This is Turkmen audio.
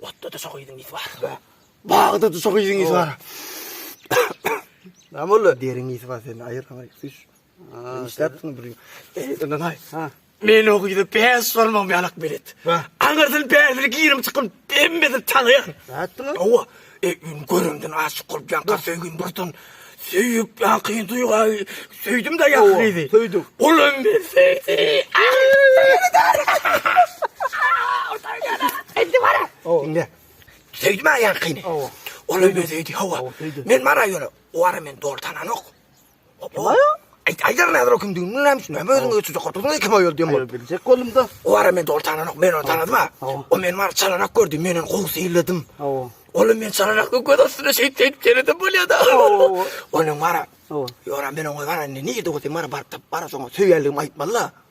Otda duşa gyzyňyz bar. Bagda duşa gyzyňyz bar. Näme boldy? Deriňiz bar sen aýyrlaňy. Üç. Sen bir. Ondan aý. Ha. Men o gyzy bäş sormaň ýalak belet. Aňyrdan bäşini girim çykym, emmesini tanýan. Nätdiňiz? Owa. Öýüni göremden aşyk bolup ýanka söýgin birden söýüp ýakyn duýga söýdüm da ýa gyzy. Söýdüm. Olam bir söýdi. Indi bara. Indi. Söýdüm ýa ýankyny. Olam bir söýdi. Hawa. Men bara ýöne. Wara men dogry tananok. Goplaýa. Aýt aýdar näder o kimdigini bilen näme üçin? Näme özüňe ötüjek gorpuzma iki moý öldüm bol. Biljek boldum da. O wara men dol tananok, men ony tanadym ha. O men wara çalanak gördi, men ony gowy seýledim. Ol hem men çalanak görüp göz astynda şeýt şeýt seýledem bolýa da. Ol hem wara. Ýora men oňa wara indi nirede bolsa wara baryp tapyp wara soňa söýýänligimi aýtmaly da.